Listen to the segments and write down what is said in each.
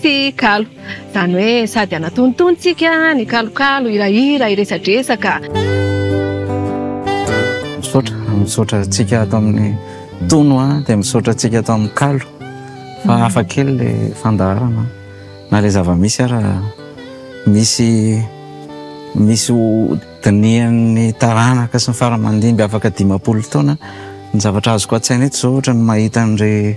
sy kalo. Izany hoe sady anatonitony tsika ny kalokalo, hirahira, hiresadresaka. Misaotra, misaotra antsika ato amin'ny tono a, dia misaotra antsika ato amin'ny kalo fa mm. hafa kely le fandaharana na le zava-misy ara misy misy dinihan'ny taranaka sy ny faramandimby afaka dimampolo taona ny zavatra azoko an-tsaina eto zao ohatra ny mahita an'irey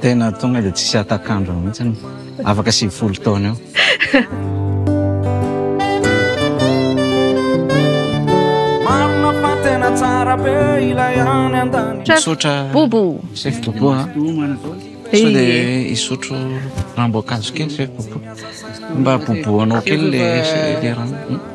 Tena tonga dia tsisy hatak'andro mihitsy, afaka sivifolo taona eo. Misaotra chef Bobo a, sao dia hisotro ranom-boankazo kely chef Bobo, mba bobohanao kely le rano.